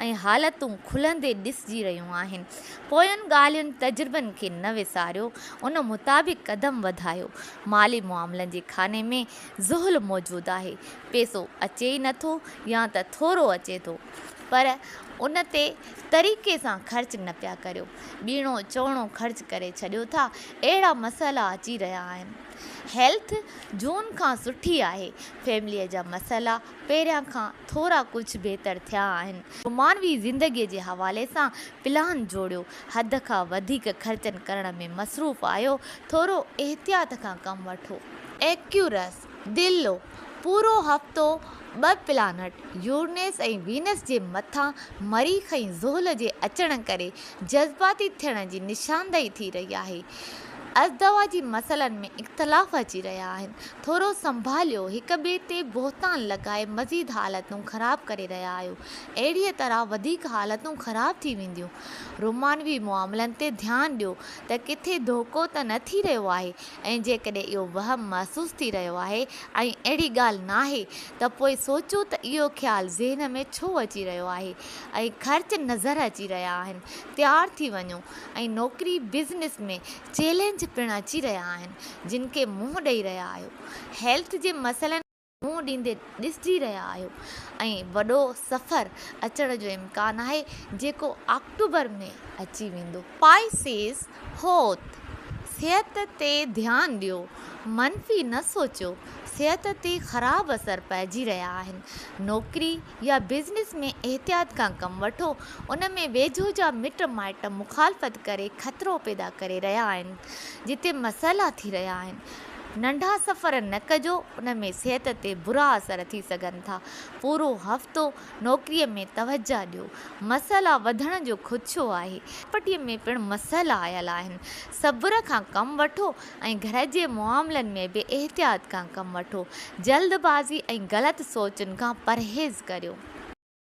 ۽ حالتون کلندي ڏسجي رهيون آهن. پوين ڳالهين تجربن کي نه وساريو، ان مطابق قدم وڌايو. مالي معاملن جي خاني ۾ زحل موجود آهي. پيسو اچي ئي نه ٿو يا ته ٿورو اچي ٿو. پر ان تي طريقي سان خرچ نه پيا ڪريو. ٻيڻو چوڻو خرچ ڪري ڇڏيو ٿا. اهڙا مسئلا اچي رهيا آهن. هيلٿ جون کان سٺي آهي. فيمليء جا مسئلا پهريان کان ٿورا ڪجهه بهتر ٿيا آهن. رومانوي زندگيء جي حوالي سان پلان جوڙيو، حد کان وڌيڪ خرچن ڪرڻ ۾ مصروف آهيو، ٿورو احتياط کان ڪم وٺو. ايڪيورس، دلو، پورو هفتو ٻه پلانٽ يورنيس ۽ وينس جي مٿان مريخ ۽ زحل جي اچڻ ڪري جذباتي ٿيڻ جي نشاندهي ٿي رهي آهي. ازدواجي مسئلن ۾ اختلاف اچي رهيا آهن. ٿورو سنڀاليو هڪ ٻئي تي بهتان لڳائي مزيد حالتون خراب ڪري رهيا آهيو اهڙيء طرح وڌيڪ حالتون خراب ٿي وينديون رومانوي معاملن تي ڌيان ڏيو ته ڪٿي ڌوڪو ته نه ٿي رهيو آهي ۽ جيڪڏهن اهو وهم محسوس ٿي رهيو آهي ۽ اهڙي ڳالهه ناهي ته پوء سوچو ته اهو خيال ذهن ۾ ڇو اچي رهيو آهي ۽ خرچ نظر اچي رهيا آهن تيار ٿي وڃو ۽ نوڪري بزنس ۾ چئلينج پڻ اچي رهيا آهن جن کي منهن ڏئي رهيا آهيو هيلٿ جي مسئلن کي منهن ڏيندي ڏسجي رهيا آهيو ۽ وڏو سفر اچڻ جو امڪان آهي جيڪو آڪٽوبر ۾ اچي ويندو. پائسيز حوت صحت تي ڌيان ڏيو منفي نه سوچيو صحت تي خراب اثر پئجي رهيا آهن نوڪري يا بزنس ۾ احتياط کان ڪم وٺو، ان ۾ ويجهو جا مٽ مائٽ مخالفت ڪري خطرو پيدا ڪري رهيا آهن، جتي مسئلا ٿي رهيا آهن. ننڍا سفر نه ڪجو، ان ۾ صحت تي برا اثر ٿي سگهن ٿا. پورو هفتو نوڪري ۾ توجهه ڏيو، مسئلا وڌڻ جو خدشو آهي. پراپرٽي ۾ پڻ مسئلا آيل آهن، صبر کان ڪم وٺو، ۽ گهر جي معاملن ۾ به احتياط کان ڪم وٺو. جلد بازي ۽ غلط سوچن کان پرهيز ڪريو.